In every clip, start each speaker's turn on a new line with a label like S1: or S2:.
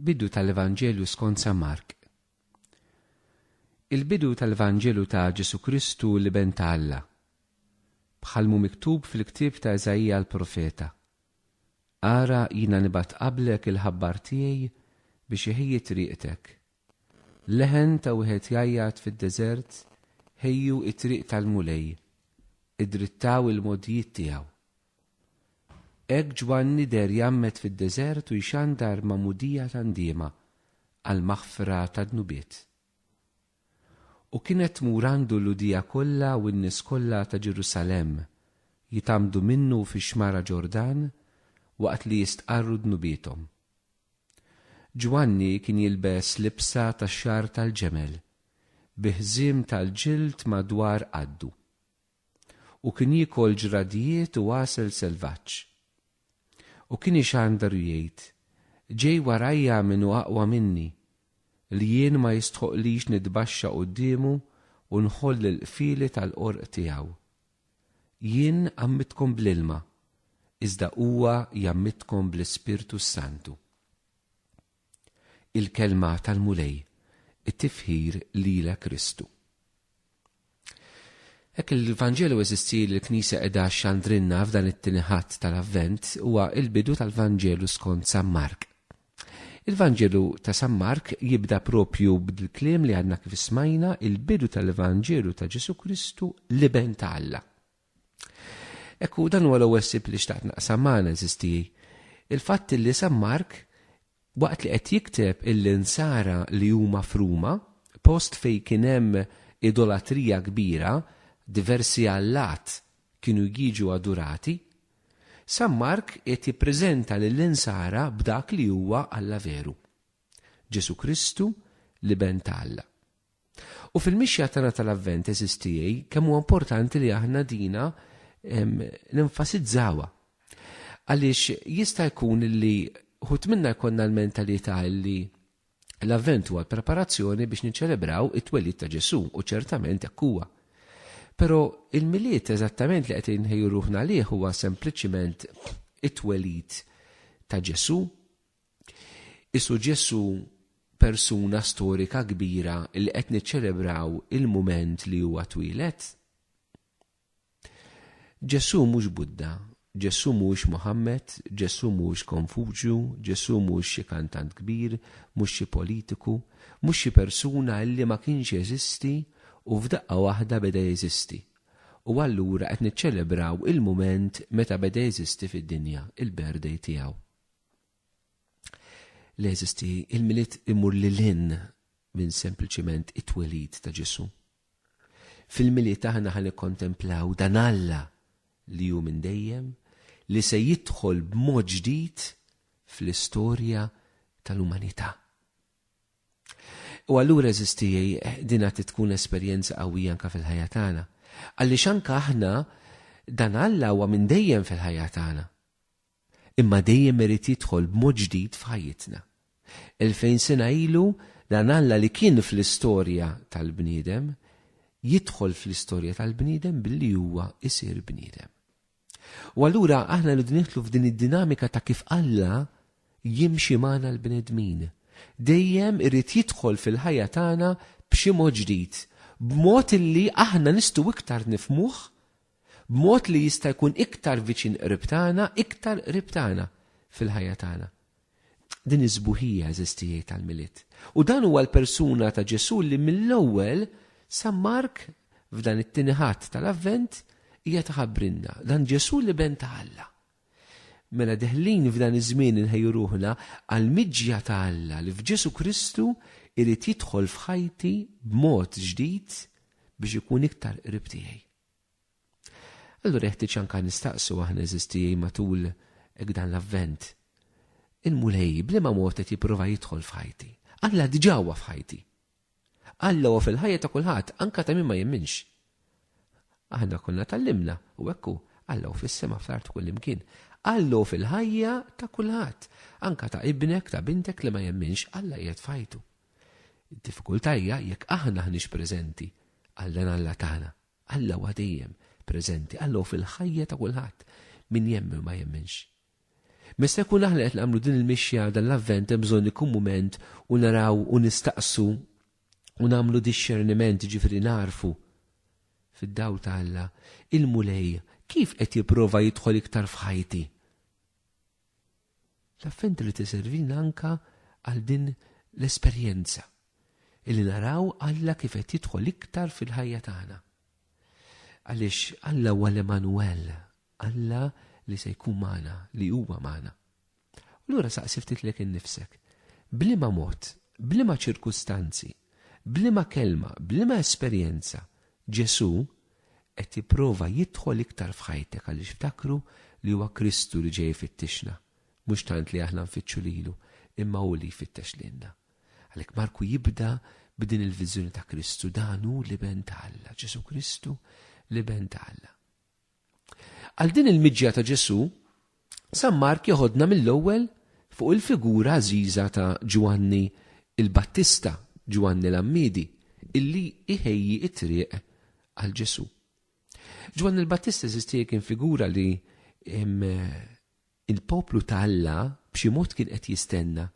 S1: Bidu tal-Evanġelju skont San Mark. Il-bidu tal-Evanġelju ta' Ġesu Kristu l-Iben ta' Alla. Bħalmu miktub fil-ktieb ta' Iżaija l-profeta. Ara jina nibat qablek il-ħabbar tiegħi biex iħejji triqtek. Leħen ta' wieħed jajjat fid-deżert ħejju it-triq tal-Mulej. Idrittaw il-modjiet tiegħu. Hekk Ġwanni deher jgħammed fid-deżert u jxandar magħmudija ta' ndiema għall-maħfra tad-dnubiet. U kienet tmur għandu l-Lhudija kollha u n-nies kollha ta' Ġerusalemm jitgħammdu minnu fix-xmara Ġordan waqt li jistqarru dnubiethom. Ġwanni kien jilbes libsa tax-xagħar tal-ġemel, bi ħżiem tal-ġild madwar qaddu. u kien jiekol ġradjiet u għasel selvaġġ. U kien ixandar u jgħid, Ġej warajja min hu aqwa minni, li jien ma jistħoqqlix nitbaxxa quddiemu u nħoll il-qfieli tal-qorq tiegħu. Jien għammittkom bl-ilma, iżda huwa jgħammittkom bl-Ispirtu s-Santu. Il-Kelma tal-Mulej, it-tifħir lilek Kristu. Hekk il-Vanġelu eżisti li l-Knisja qiegħda xxandrilna f'dan it-tieni Ħadd tal-Avvent huwa l-bidu tal-Vanġelu skont San Mark. Il-Vanġelu ta' San Mark jibda propju b'dil-kliem li għadna kif smajna, il-bidu tal-Vanġelu ta' Ġesù Kristu, l-Iben ta' Alla. Ekku dan huwa l-ewwel sib li xtaqt naqsam magħna żisti. Il-fatt li San Mark waqt li qed jikteb il-insara li huma fruma, post fejn kien hemm idolatrija kbira, diversi allat kienu jiġu adurati, San Mark qed jippreżenta lill-insara b'dak li huwa Alla veru. Ġesù Kristu, l-Iben ta' Alla. U fil-mixja tagħna tal-Avvent eżis tiegħi kemm huwa importanti li aħna dina nenfasizzawa. Għaliex jista' jkun li ħut minna jkollna l-mentalità li l-Avvent huwa l-preparazzjoni biex niċċelebraw it-twelid ta' Ġesù u ċertament hekk huwa. Però il-Milied eżattament li qed inħejju ruħna għalih huwa sempliċiment it-twelid ta' Ġesù Isu Ġesù persuna storika kbira li qed niċċelebraw il-mument li huwa twieled? Ġesù mhux Buddha, Ġesù mhuwiex Muħammad, Ġesù mhuwiex Konfuċju, Ġesù mhuwiex xi kantant kbir, mhux xi politiku, mhux xi persuna li ma kienx jeżisti u f'daqqa waħda beda jeżisti. U allura qed niċċelebraw il-mument meta beda jeżisti fid-dinja, il-birthday tiegħu. li jeżisti, il-Milied imur lil hinn minn sempliċiment it-twelid ta' Ġesù. Fil-Milied aħna ħa nikkontemplaw dan Alla li hu minn dejjem li se jidħol b'mod ġdid fl-istorja tal-umanità. U allura eżisti dina tkun esperjenza qawwija anka fil-ħajja tagħna. Għaliex anka aħna dan Alla huwa minn dejjem fil-ħajja tagħna. imma dejjem irid jidħol b'mod ġdid f'ħajjitna. Elfejn sena ilu, dan Alla li kien fl-istorja tal-bniedem, jidħol fl-istorja tal-bniedem billi huwa jsir bniedem. U allura aħna rridu nidħlu f'din id-dinamika ta' kif Alla jimxi magħna l-bnedmin. Dejjem irid jidħol fil-ħajja tagħna b'xi mod ġdid, b'mod illi aħna nistgħu iktar nifmuh b'mod li jista' jkun iktar viċin qrib tagħna, iktar qrib tagħna fil-ħajja tagħna. Din is-sbuħija, għeżież tiegħi, tal-Milied. U dan huwa l-persuna ta' Ġesù li mill-ewwel San Mark f'dan it-tieni Ħadd tal-Avvent qiegħed iħabbrilna, dan Ġesù li ben ta' Alla. Mela deħlin f'dan iż-żmien inħejju ruħna għal miġja ta' Alla li f'Ġesù Kristu irid jidħol f'ħajti b'mod ġdid biex ikun iktar qrib tiegħi. Allura jeħtieġ anke nistaqsu aħna eżistijej matul dan l-avvent. Il-Mulej bliema mod qed jipprova jidħol f'ħajti. Alla diġà huwa f'ħajti. Alla huwa fil-ħajja ta' kulħadd, anke ta' min ma jemminx. Aħna konna tallimna u hekk Alla hu fis-sema fl-art kull imkien. Alla hu fil-ħajja ta' kulħadd, anke ta' ibnek, ta' bintek li ma jemminx, Alla qiegħed f'ħajtu. Id-diffikultà hija jekk aħna aħniex preżenti għal dan Alla tagħna. Alla huwa dejjem preżenti, Alla hu fil-ħajja ta' kulħadd, min jemmen u ma jemminx. Meta jkun aħna qed nagħmlu din il-mixja dan l-Avvent hemm bżonn ikun mument u naraw u nistaqsu u nagħmlu dixxerniment, jiġifieri nagħrfu fid-dawl ta' Alla, il-Mulej kif qed jipprova jidħol iktar f'ħajti? L-Avvent irid iservilna anke għal din l-esperjenza, illi naraw Alla kif qed jidħol iktar fil-ħajja tagħna. Għaliex Alla huwa l-Emanuwel, Alla li se jkun magħna, li huwa magħna. U lura saqsi ftit lek innifsek, b'liema mod, b'liema ċirkustanzi, b'liema kelma, b'liema esperjenza, Ġesù qed jipprova jidħol iktar f'ħajtek għaliex ftakru li huwa Kristu li ġej ifittixna, mhux tant li aħna nfittxu lilu imma hu li jfittex lilna. Għalhekk Marku jibda b'din il-viżjoni ta' Kristu, dan hu l-Iben ta' Alla, Ġesu Kristu l-Iben ta' Alla. Għal din il-miġja ta' Ġesu, San Mark jeħodna mill-ewwel fuq il-figura għażiża ta' Ġwanni l-Battista, Ġwanni l-Għammiedi, illi jħejji t-triq għal Ġesù. Ġwanni l-Battista eżistieħ kien figura li il-poplu ta' Alla b'xi mod kien qed jistenna,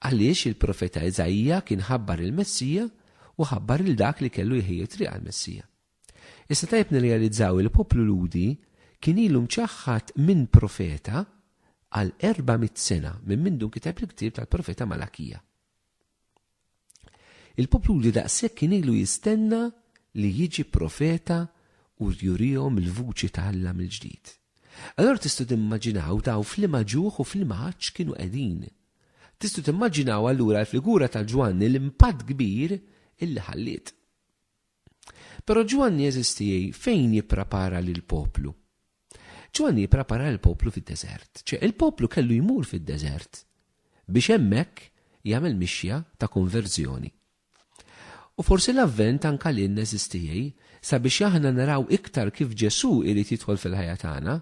S1: għaliex il-profeta Iżaija kien ħabbar il-Messija u ħabbar lil dak li kellu jħejji t-triq għall-Messija. Issa tajjeb nirrealizzaw li l-poplu Lhudi kien ilu mċaħħad minn profeta għal erba' mitt sena minn mindu nkiteb il-ktieb tal-profeta Malakija. Il-poplu Lhudi daqshekk kien ilu jistenna li jiġi profeta u jurihom il-vuċi ta' Alla mill-ġdid. Allora tistgħu timmaġinaw taw flima ġuħ u flima ħaġġ kienu qegħdin. Tistgħu timmaġinaw allura l-figura ta' Ġwanni l-impatt kbir illi ħalliet. Però Ġwanni jeżisti fejn jipprepara lill-poplu. Ġwanni jipprepara lill-poplu fid-deżert. Ċe, il-poplu kellu jmur fid-deżert biex hemmhekk jagħmel mixja ta' konverżjoni. U forsi l-Avvent anke lilna jeżisti sabiex aħna naraw iktar kif Ġesù jrid jidħol fil-ħajja tagħna,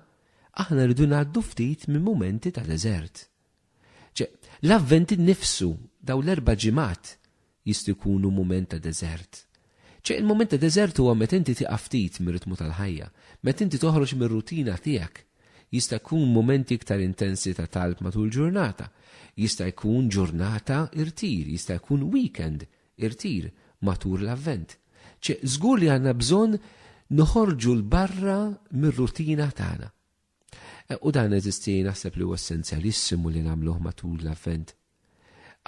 S1: aħna rridu ngħaddu ftit minn mumenti ta' deżert. Ċe, l-Avvent innifsu, dawn l-erba' ġimgħat, Jistgħu jkunu mument ta' deżert. Ċe il-mument ta' deżert huwa meta inti tieqaf ftit mir-ritmu tal-ħajja, meta inti toħroġ mir-rutina tiegħek. Jista' jkun mumenti iktar intensi ta' talb matul ġurnata. Jista' jkun ġurnata irtir, jista' jkun weekend irtir matur l-Avvent. Ċe żgur li għandna bżonn noħorġu 'l barra mir-rutina tagħna. U dan eżisti naħseb li huwa essenzjalissimu li nagħmluh matul l-Avvent.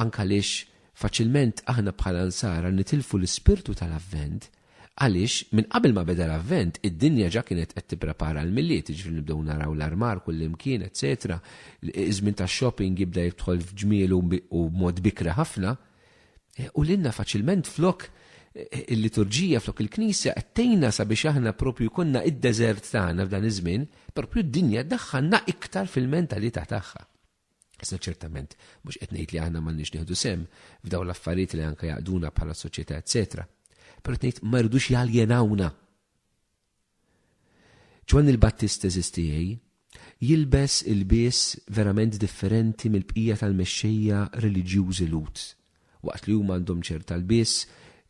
S1: Anke għaliex faċilment aħna bħala nsara nitilfu l-ispirtu tal-Avvent għaliex minn qabel ma beda l-Avvent id-dinja ġa kienet qed tipprepara l-Milied, jiġifieri nibdew naraw l-armar kullimkien, eċetera. Iż-żmien tax-shopping jibda jidħol f'ġmielu u b'mod bikri ħafna. U lilna faċilment flok il-liturġija flok il-Knisja qed tgħinna sabiex aħna propju konna id-deżert tagħna f'dan iż-żmien, propju d-dinja daħħalna iktar fil-mentalità tagħha. Isna ċertament mhux qed ngħid li aħna m'għandniex nieħdu sem f'daw l-affarijiet li anke jaqduna bħala soċjetà eċetera. Però qed ngħid ma rridux jaljenawna. Ġwanni l-Battist eżisti jgħi, jilbes ilbies verament differenti mill-bqija tal-mexxejja reliġjużi Lhud. Waqt li huma għandhom ċerta lbies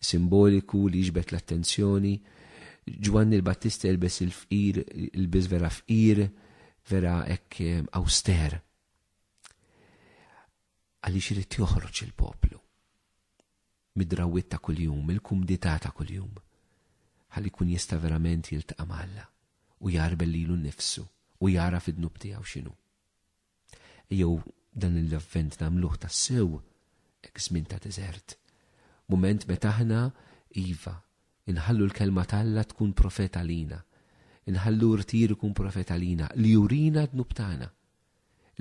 S1: simboliku li jiġbed l-attenzjoni, Ġwanni l-Battista jilbes il-fqir, ilbies vera fqir, vera hekk awster. Għaliex irid joħroġ il-poplu. mid-drawwiet ta' kuljum, mill-kumdità ta' kuljum, ħalli jkun jista' verament jiltaqa' ma' Alla u jgħarbel lilu nnifsu u jagħraf id-dnub tiegħu x'inhu. Ejjew dan l-Avvent nagħmluh tassew hekk żmien ta' deżert, mument meta aħna, iva, inħallu l-Kelma t'Alla tkun profet għalina, inħallu rtir ikun profet għalina li jurina d-dnub tagħna,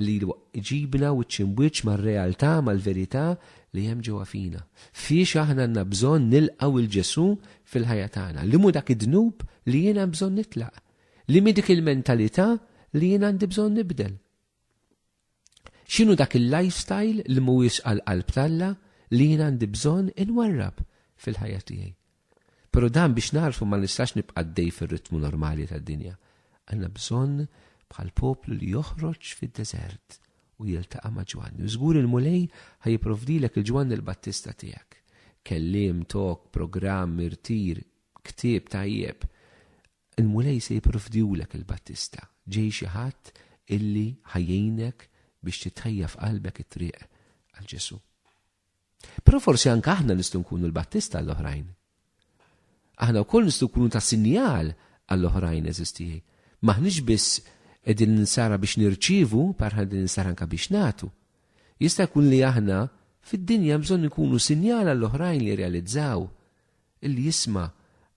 S1: li jġibna wiċċ im'wiċċ mar-realtà, mal-verità li hemm ġewwa fina. Fiex aħna għandna bżonn nilqgħu lil Ġesù fil-ħajja tagħna? Liemhu dak id-dnub li jien hemm bżonn nitlaq? Liemhi dik il-mentalità li jien għandi bżonn nibdel? X'inhu dak il-lifestyle li mhuwiex għall-qalb t'Alla li jien għandi bżonn inwarrab fil-ħajja tiegħi? Però dan biex nagħrfu ma nistax nibqa' għaddej fir-ritmu normali tad-dinja. Għandna bżonn bħal poplu li joħroġ fid-deżert u jiltaqa' ma' Ġwanni. U żgur il-Mulej ħa jipprovdilek il-Ġwanni l-Battista tiegħek. Kelliem, talk, programm, irtir, ktieb tajjeb. Il-Mulej se jipprovdihulek il-Battista. Ġej xi ħadd illi ħa jgħinek biex tittajja f'qalbek it-triq għal Ġesù. Però forsi anke aħna nistgħu nkunu l-battista għall-oħrajn. Aħna wkoll nistgħu nkunu ta' sinjal għall-oħrajn eżisti tiegħi. M'aħniex biss qegħdin ninsara biex nirċievu, parħan din ninsara anke biex nagħtu. Jista' jkun li aħna fid-dinja bżonn nkunu sinjal għall-oħrajn li realizzaw li jisma'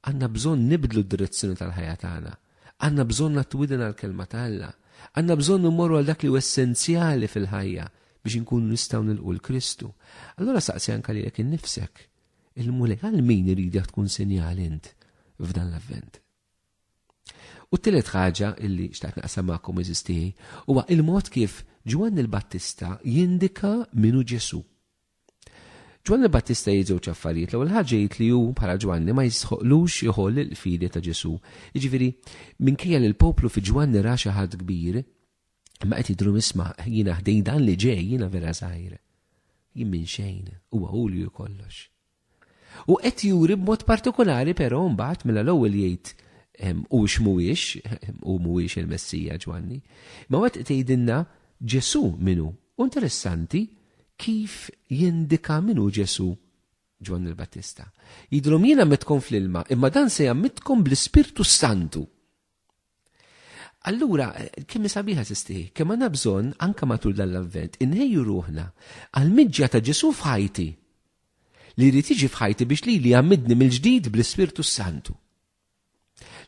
S1: għandna bżonn nibdlu d-direzzjoni tal-ħajja tagħna. Għandna bżonn nagħtu widen għall-Kelma ta' Alla. Għandna bżonn immorru għal dak li hu essenzjali fil-ħajja biex inkunu nistgħu nilqu 'l Kristu. Allura saqsi anke lilek innifsek illum għal min iridek tkun sinjal int f'dan l-Avvent? U t-tielet ħaġa illi xtaqt naqsam magħkom iżis tiegħi huwa il-mod kif Ġwanni l-Battista jindika minu Ġesu. Ġwanni l-Battista jgħid żewġ affarijiet. L-ewwel ħaġa jgħid li hu bħala Ġwanni ma jistħoqlux jħoll il-qfidi ta' Ġesù. Jiġifieri, minkejja li l-poplu fi Ġwanni ra xi ħadd kbir, imma qed jidhru misma' jiena ħdejn dan li ġej jiena vera żgħir. Jien minn xejn, huwa hu li hu kollox. U qed juri b'mod partikulari però mbagħad mela l-ewwel jgħid hux mhuwiex, hu mhuwiex il-Messija Ġwanni. Ma wet tgħidilna Ġesù minnu. U interessanti kif jindika minnu Ġesù Ġwanni l-Battista. Jidhrom jien ammettkom fl-ilma, imma dan se jammittkom bl-Ispirtu Santu. Allura, kemm sabiħa sisti, kemm għandna bżonn anke matul dan l-avvent, inħejju ruħna għal miġja ta' Ġesu f'ħajti. Li jrid jiġi f'ħajti biex li li għamidni mill-ġdid bl-Ispirtu Santu.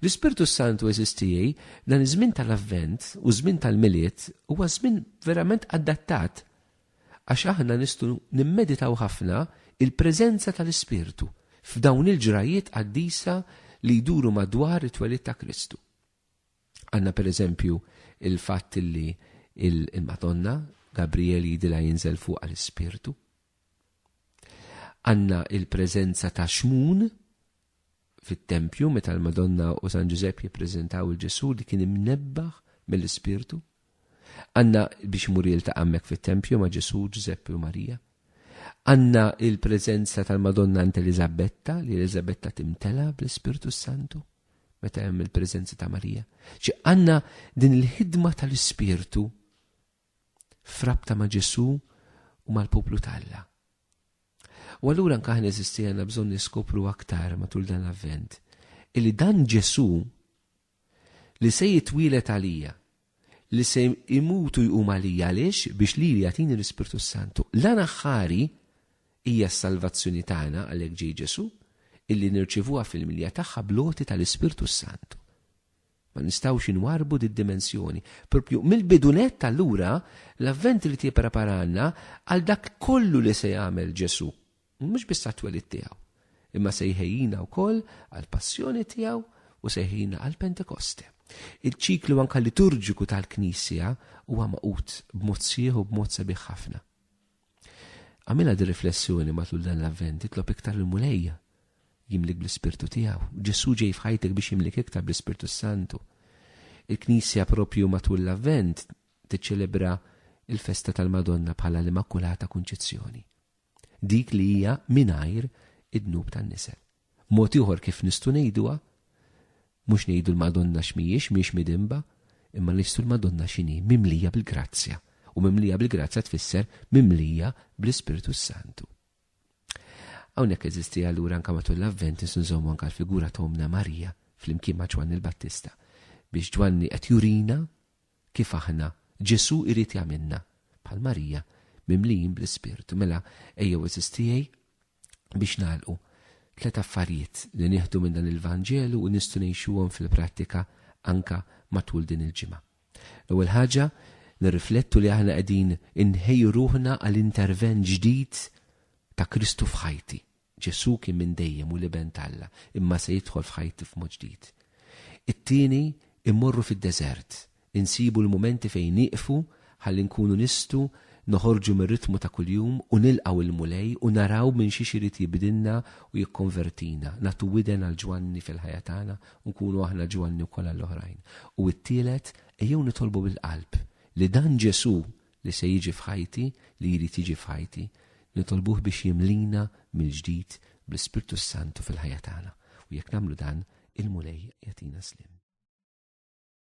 S1: L-Ispirtu Santu eżistijaj dan iż-żmien tal-avvent u żmien tal-miliet huwa żmien verament adattat għax aħna nistgħu nimmeditaw ħafna il-preżenza tal-Ispirtu f'dawn il-ġrajjiet qaddisa li jduru madwar it-twelid ta' Kristu. Għandna pereżempju il-fatt li il-Madonna Gabriel jidilha jinżel fuq għal ispirtu Għandna il-preżenza ta' xmun fit-tempju meta l-Madonna u San Ġużepp jippreżentaw il-Ġesù li kien imnebbaħ mill-Ispirtu. Għanna biex imur jiltaqa' hemmhekk fit-tempju ma' Ġesù, Ġużeppi u Marija. Għanna il-preżenza tal-Madonna għand Eliżabetta li Eliżabetta timtela bl-Ispirtu Santu meta hemm il-preżenza ta' Marija. Ġi għanna din il-ħidma tal-Ispirtu f'rabta ma' Ġesù u mal-poplu ta' Alla. U allura anke aħna eżisti għandna bżonn niskopru aktar matul dan l-Avvent illi dan Ġesù li se jitwielet għalija, li se imutu jqum għalija għaliex biex li jagħtini l-Ispirtu Santu. L-għana ħari hija s-salvazzjoni tagħna għalhekk ġej Ġesu, illi nirċivuha fil-milja tagħha bloti tal-Ispirtu Santu. Ma nistgħux inwarrbu did-dimensjoni. Proprju mill-bidu nett allura l-Avvent irid jippreparalna għal dak kollu li se jagħmel Ġesù, mhux biss għat-twelid tiegħu, imma se jħejjina wkoll għall-Passjoni tiegħu u se jħejjina għall-Pentekoste. Il-ċiklu anke liturġiku tal-Knisja huwa magħqud b'mod sħiħ u b'mod sabiħ ħafna. Għamilha di riflessjoni matul dan l-Avvent, itlob iktar lil Mulejja jimlik bl-Ispirtu tiegħu. Ġesù ġej f'ħajtek biex jimlik iktar bl-Ispirtu s-Santu. Il-Knisja propju matul l-Avvent tiċċelebra il-festa tal-Madonna bħala l-Immakulata Kunċizzjoni, dik li hija mingħajr id-dnub tan-nisel. Mod ieħor kif nistgħu ngħiduha, mhux ngħidu l-Madonna x'mhijiex, mhijiex midinba, imma ngħistu l-Madonna x'inhi, mimlija bil-grazzja, u mimlija bil-grazzja tfisser mimlija bl-Ispirtu s-Santu. Hawnhekk eżisti allura anke matul l-Avvent nistgħu nżommu anke l-figura ta' Ommna Marija flimkien ma' Ġwanni l-Battista biex Ġwanni qed jurina kif aħna Ġesu irid jagħmilna bħal Marija mimlijin bl-Ispirtu. Mela ejjew eżistijej Biex nagħlqu, tliet affarijiet li nieħdu minn dan il-Vanġelu u nistgħu ngħixuhom fil-prattika anke matul din il-ġimgħa. L-ewwel ħaġa, nirriflettu li aħna qegħdin inħejju ruħna għal intervent ġdid ta' Kristu f'ħajti. Ġesù kien minn dejjem u l-Iben t'Alla, imma se jidħol f'ħajti f'mod ġdid. It-tieni, immorru fid-deżert Insibu l-mumenti fejn nieqfu ħalli nkunu nistgħu noħorġu mir-ritmu ta' kuljum u nilqgħu l-Mulej u naraw minn xiex irid jibdilna u jikkonvertina, nagħtu widen għal Ġwanni fil-ħajja tagħna u nkunu aħna Ġwanni wkoll għall-oħrajn. U t-tielet, ejjew nitolbu bil-qalb li dan Ġesù li se jiġi f'ħajti, li jrid jiġi f'ħajti, nitolbuh biex jimlina mill-ġdid bl-Ispirtu s-Santu fil-ħajja tagħna. U jekk nagħmlu dan, il-Mulej jagħtina sliem.